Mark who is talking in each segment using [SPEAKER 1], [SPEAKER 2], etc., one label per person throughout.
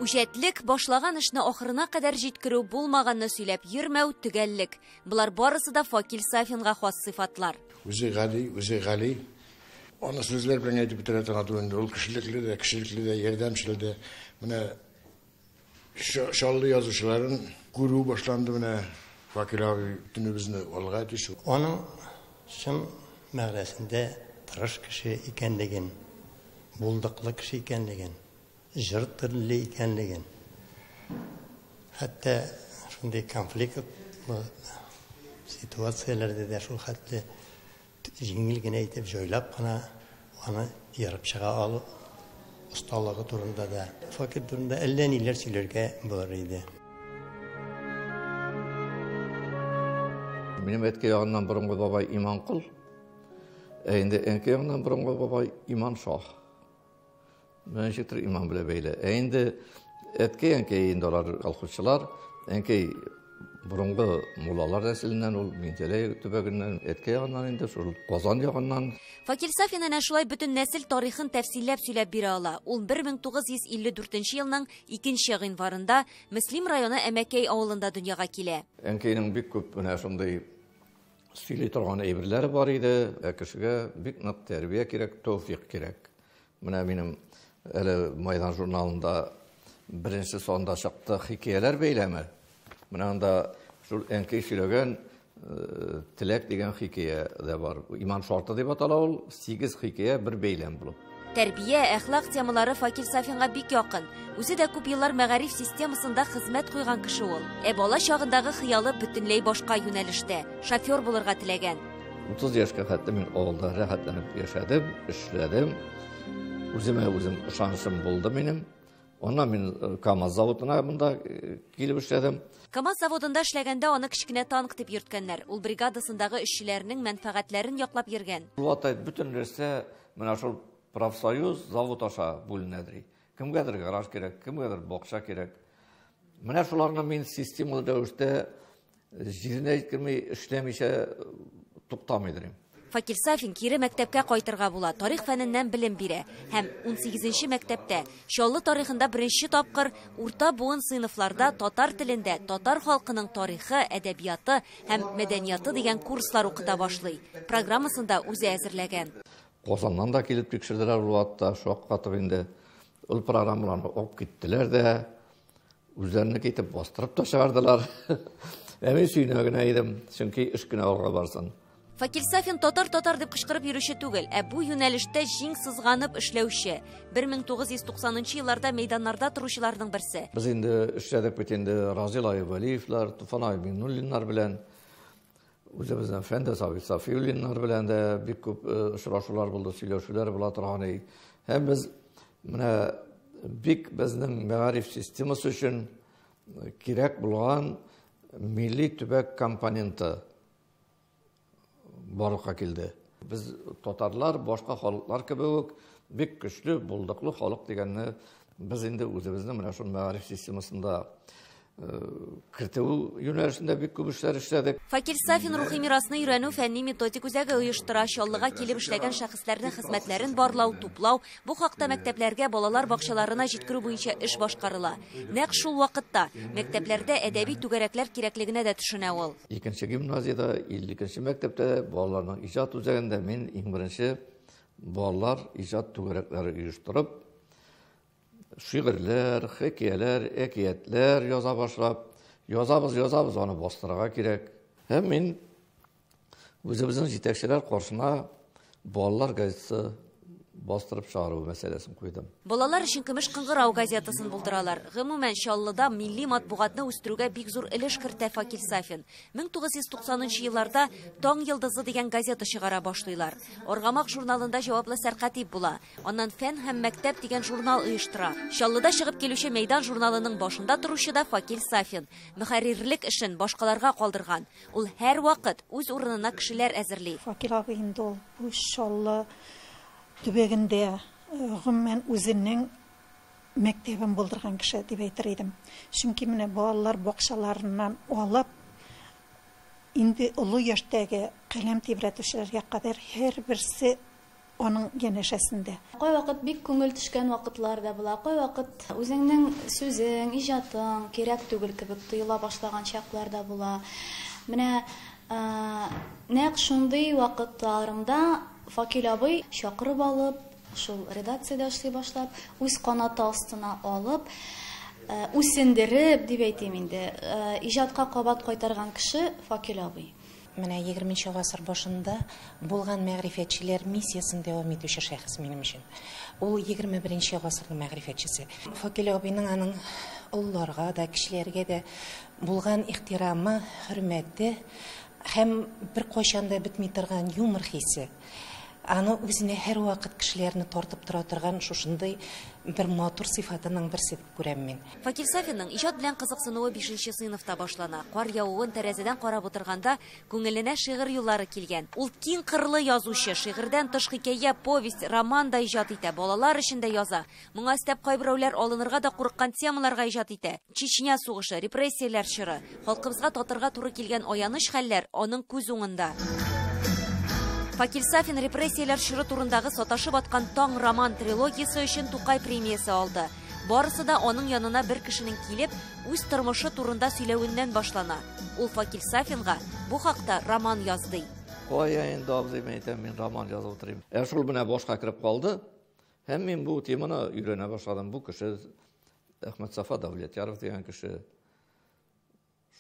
[SPEAKER 1] Үҗәтлек, башлаган эшне ахырына кадәр җиткерү, булмаганны сөйләп йөрмәү, төгәллек. Болар барысы да Факил Сафинга хас сыйфатлар. Үзе гади,
[SPEAKER 2] үзе гали. Аны сүзләр белән әйтеп бетерә торган түгел инде. Ул кешелекле дә, кешелекле дә, ярдәмчел дә. Менә Чаллы язучыларын күрү башланды менә. Вакил абый төнебезне алга әйтеш. Аның
[SPEAKER 3] чын мәгънәсендә тырыш кеше икәнлеген, булдыклы кеше икәнлеген, җыр телле икәнлеген, хәтта шундый конфликтлы ситуацияләрдә дә шул хәтле Җиңел генә итеп җайлап кына аны ярып чыга алу осталыгы турында да, факел турында әллә ниләр сөйләргә булыр иде.
[SPEAKER 4] Минем әткәй ягыннан борынгы бабай Иманкол, ә инде әнкәй ягыннан борынгы бабай Иманшаһ. Ничек төр иман белән бәйле. Ә инде әткәй әнкәй инде алар колхозчылар. Әнкәй борынгы муллалар нәселеннән ул Минзәләй төбәгеннән, әткәй ягыннан инде шул Казан ягыннан. Факил Сафин әнә
[SPEAKER 1] шулай бөтен нәсел тарихын тәфсилләп сөйләп бирә ала. Ул 1954 елның 2 гыйнварында Мөслим районы Әмәкәй авылында дөньяга килә. Әнкәйнең бик күп
[SPEAKER 4] менә шундый сөйли торган әйберләре бар иде. Ә кешегә бик нык тәрбия кирәк, тәүфик кирәк. Менә минем әле Майдан журналында беренче санда чыкты хикәяләр бәйләме. Менә анда шул әнкәй сөйләгән э, Теләк дигән хикәя дә бар. Иман шарты дип атала ул, 8 хикәя бер бәйләм булып. Тәрбия, әхлак
[SPEAKER 1] темалары Факил Сафинга бик якын. Үзе дә күп еллар мәгариф системасында хезмәт куйган кеше ул. Ә бала чагындагы хыялы бөтенләй башка юнәлештә. Шофер булырга теләгән. 30 яшькә
[SPEAKER 4] хәтле мин авылда рәхәтләнеп яшәдем, эшләдем. Үземә үзем ышанышым булды минем. Аннан мин э, КАМАЗ заводына монда э, килеп эшләдем. КАМАЗ заводында
[SPEAKER 1] эшләгәндә аны кечкенә танк дип йөрткәннәр. Ул бригадасындагы эшчеләрнең мәнфәгатьләрен яклап йөргән. Булатай бөтен
[SPEAKER 4] нәрсә Менә шул профсоюз завод аша бүленә ди. Кемгәдер гараж кирәк, кемгәдер бакча кирәк. Менә шуларны мин системалы рәвештә җиренә җиткерми эшләмичә туктамый дим. Факил Сафин
[SPEAKER 1] кире мәктәпкә кайтырга була, тарих фәненнән белем бирә һәм 18 мәктәптә, Чаллы тарихында беренче тапкыр урта буын сыйныфларда татар телендә татар халкының тарихы, әдәбияты, һәм мәдәнияты дигән курслар укыта башлый. Программасын да үзе әзерләгән. Казаннан да
[SPEAKER 4] килеп тикшерделәр ул атта, шаккатып инде. Ул программаларны алып киттеләр дә, үзләренеке итеп бастырып та чыгардылар. Ә мин сөенә генә идем, чөнки эш кенә алга барсын. Факил Сафин
[SPEAKER 1] татар-татар дип кычкырып йөрүче түгел, ә бу юнәлештә җиң сызганып эшләүче, 1990 елларда мәйданнарда торучыларның берсе. Без инде эшләдек
[SPEAKER 4] бит инде Разил Айвалиевлар, Туфан Айминуллиннар белән, үзебезнең Фәндә Сафи Сафиуллиннар белән дә бик күп э, очрашулар булды, сөйләшүләр була торган иде. Һәм без менә бик безнең мәгариф системасы өчен э, кирәк булган милли төбәк компоненты барлыкка килде. Без татарлар башка халыклар кебек үк бик көчле, булдыклы халык дигәнне без инде үзебезнең менә шул мәгариф системасында э, кертү юнәлешендә бик күп эшләр эшләдек. Факил Сафин рухи
[SPEAKER 1] мирасны өйрәнү фәнни методик үзәге оештыра, Чаллыга килеп эшләгән шәхесләрнең хезмәтләрен барлау, туплау, бу хакта мәктәпләргә, балалар бакчаларына җиткерү буенча эш башкарыла. Нәкъ шул вакытта мәктәпләрдә әдәби түгәрәкләр кирәклегенә дә төшенә ул. Икенче гимназиядә,
[SPEAKER 4] 52 мәктәптә балаларның иҗат үзәгендә мин иң беренче балалар иҗат түгәрәкләре оештырып, шигырьләр, хикәяләр, әкиятләр яза башлап, язабыз, язабыз, аны бастырырга кирәк. Һәм мин үзебезнең җитәкчеләр каршына Балалар газетасы бастырып чыгару мәсьәләсен куйдым. Балалар өчен Көмеш
[SPEAKER 1] кыңгырау газетасын булдыралар. Гомумән, Чаллыда милли матбугатны үстерүгә бик зур өлеш кертә Факил Сафин. 1990 елларда Таң йылдызы дигән газета чыгара башлыйлар. Аргамак журналында җаваплы сәркатип була. Аннан Фән һәм мәктәп дигән журнал оештыра. Чаллыда чыгып килүче Мәйдан журналының башында торучы да Факил Сафин. Мөхәррирлек эшен башкаларга калдырган. Ул һәрвакыт үз урынына кешеләр әзерли. Факил абый инде ул
[SPEAKER 5] бу Чаллы төбәгендә, гомумән, үзенең мәктәбен булдырган кеше дип әйтер идем. Чөнки менә балалар бакчаларыннан алып, инде олы яшьтәге каләм тибрәтүчеләргә кадәр һәрберсе аның янәшәсендә. Кайвакыт бик
[SPEAKER 6] күңел төшкән вакытлар да була, кайвакыт үзеңнең сүзең, иҗатың кирәк түгел кебек тоела башлаган чаклар да була. Менә нәкъ шундый вакытларымда Факил абый чакырып алып, шул редакциядә эшли башлап, үз канаты астына алып, үсендереп, дип әйтим инде, иҗатка кабат кайтарган кеше Факил абый. Менә егерменче
[SPEAKER 7] гасыр башында булган мәгърифәтчеләр миссиясен дәвам итүче шәхес минем өчен. Ул егерме беренче гасырның мәгърифәтчесе. Факил абыйның аның олыларга да, кечеләргә дә булган ихтирамы, хөрмәте һәм беркайчан да бетми торган юмор хисе, аны үзенә һәрвакыт кешеләрне тартып тора торган шушындый бер матур сыйфатының берсе. күрәм мин. Факил Сафинның иҗат
[SPEAKER 1] белән кызыксынуы бишенче сыйныфта башлана. Кар явуын тәрәзәдән карап утырганда күңеленә шигырь юллары килгән. Ул киң кырлы язучы, шигырьдән тыш хикәя, повесть, роман да иҗат итә, балалар өчен дә яза. Моңа өстәп кайберәүләр алынырга да курыккан темаларга иҗат итә, Чечня сугышы, репрессияләр чоры, Халкыбызга татырга туры килгән аяныч хәлләр аның күз уңында. Факил Сафин репрессияләр чоры турындагы Саташып аткан таң роман трилогиясе өчен Тукай премиясе алды. Барысы да аның янына бер кешенең килеп, үз тормышы турында сөйләвеннән башлана. Ул Факил Сафинга бу хакта роман яз ди. Кая инде,
[SPEAKER 4] абзый, мин әйтәм, мин роман язып утырыйм. Ә шул менә башка кереп калды. Һәм мин бу теманы өйрәнә башладым. Бу кеше Әхмәтсафа Дәүләтяров дигән кеше.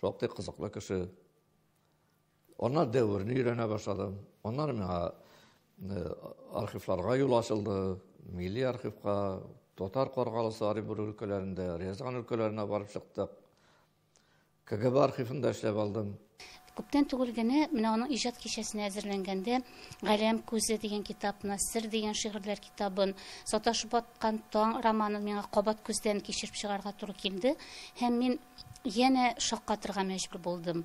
[SPEAKER 4] Шактый кызыклы кеше. Аннан дәверне өйрәнә башладым. Аннан миңа э, архивларга юл ачылды. Милли архивка, Татар Каргалысы Оренбур өлкәләрендә, Рязан өлкәләренә барып чыктык. КГБ архивында эшләп алдым. Күптән түгел
[SPEAKER 8] генә менә аның иҗат кичәсенә әзерләнгәндә Галәм күзе дигән китапны, Сер дигән шигырьләр китабын, Саташып аткан таң романын миңа кабат күздән кичереп чыгарга туры килде һәм мин янә шаккатырга мәҗбүр булдым.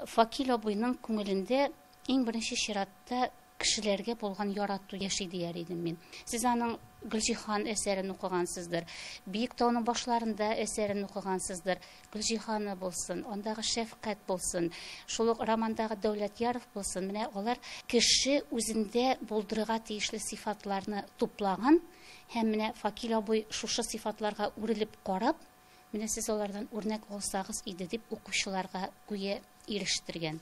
[SPEAKER 8] Факил абыйның күңелендә иң беренче чиратта кешеләргә булган ярату яши дияр идем мин. Сез аның Гөлҗиһан әсәрен укыгансыздыр. Биек тауның башларында әсәрен укыгансыздыр. Гөлҗиһаны булсын, андагы шәфкать булсын, шул ук романдагы Дәүләтьяров булсын. Менә алар кеше үзендә булдырырга тиешле сыйфатларны туплаган һәм менә Факил абый шушы сыйфатларга үрелеп карап, менә сез алардан үрнәк алсагыз иде дип укучыларга гүя ирештергән.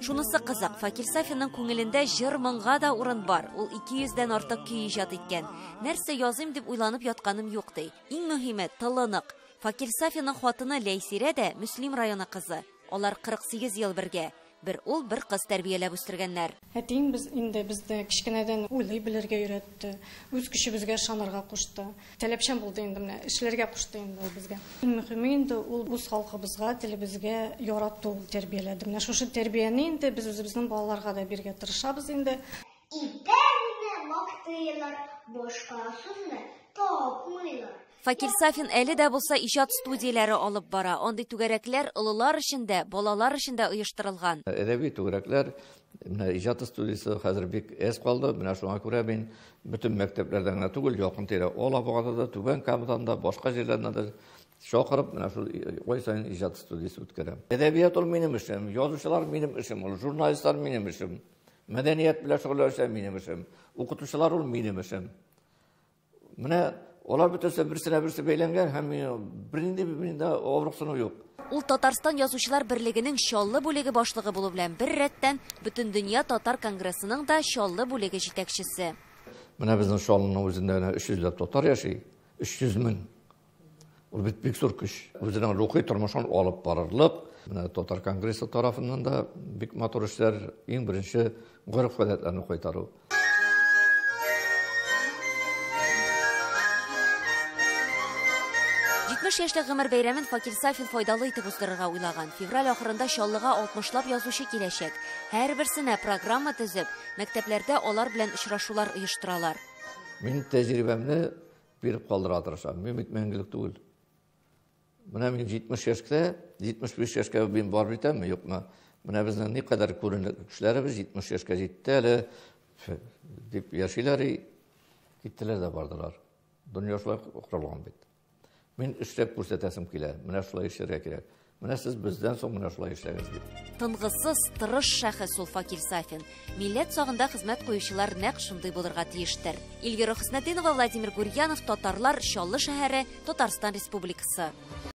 [SPEAKER 1] Шунысы кызык, Факир Сафинның күңелендә җыр-моңга да урын бар. Ул 200 дән артык көй иҗат иткән. Нәрсә языйм дип уйланып ятканым юк ди. Иң мөһиме, тылы нык. Факир Сафинның хатыны Ләйсирә дә Мөслим районы кызы. Алар 48 ел бергә. Бер ул, бер кыз тәрбияләп үстергәннәр. Әтием без инде
[SPEAKER 9] безне кечкенәдән уйлый белергә өйрәтте, үз көчебезгә ышанырга кушты. Таләпчән булды инде менә, эшләргә кушты инде ул безгә. Иң мөхиме инде ул үз халкыбызга, телебезгә ярату тәрбияләде. Менә шушы тәрбияне инде без үзебезнең балаларга да бирергә тырышабыз инде. Итәгемне
[SPEAKER 10] мактыйлар, башка сүзне тапмыйлар. Факил Сафин
[SPEAKER 1] әле дә булса иҗат студияләре алып бара. Андый түгәрәкләр олылар өчен дә, балалар өчен дә оештырылган. Әдәби түгәрәкләр,
[SPEAKER 4] менә иҗат студиясе хәзер бик әз калды. Менә шуңа күрә мин бөтен мәктәпләрдә генә түгел, якын-тирә Алабугада да, Түбән Камадан да, башка җирләрдән дә чакырып, менә шул ай саен иҗат студиясе үткәрәм. Әдәбият ул минем эшем, язучылар минем эшем, ул журналистлар минем эшем, мәдәният белән шөгыльләнүчеләр минем эшем, укытучылар ул минем эшем. Менә алар бөтенесе берсенә берсе бәйләнгән һәм бернинди миндә авырыксыну юк. Ул Татарстан
[SPEAKER 1] язучылар берлегенең Чаллы бүлеге башлыгы булу белән бер рәттән Бөтендөнья татар конгрессының да Чаллы бүлеге җитәкчесе. Менә безнең
[SPEAKER 4] Чаллының үзендә генә 300 ләп татар яши, 300 мең. Ул бит бик зур көч. Үзенең рухи тормышын алып барырлык, менә татар конгрессы тарафыннан да бик матур эшләр, иң беренче гореф гадәтләрне кайтару.
[SPEAKER 1] Җитмеш яшьлек гомер бәйрәмен Факил Сафин файдалы итеп уздырырга уйлаган. Февраль ахырында Чаллыга 60лап язучы киләчәк. Һәрберсенә программа төзеп, мәктәпләрдә алар белән очрашулар оештыралар. Мин
[SPEAKER 4] тәҗрибәмне Биреп калдыра тырышам. Мин бит мәңгелек түгел. Менә мин 70 яшькә, 75 яшькә мин бар битәмме, юкмы? Менә безнең ни кадәр күренекле кешеләребез 70 яшькә җитте әле дип яшиләр и киттеләр дә бардылар. Дөнья шулай корылган бит. Мин эшләп күрсәтәсем килә. Менә шулай эшләргә кирәк. Менә сез бездән соң менә шулай эшләгез дип. Тынгысыз,
[SPEAKER 1] тырыш шәхес ул Факил Сафин. Милләт сагында хезмәт куючылар нәкъ шундый булырга тиештер. Эльвира Хөснетдинова, Владимир Гурьянов, Татарлар, Чаллы шәһәре, Татарстан Республикасы.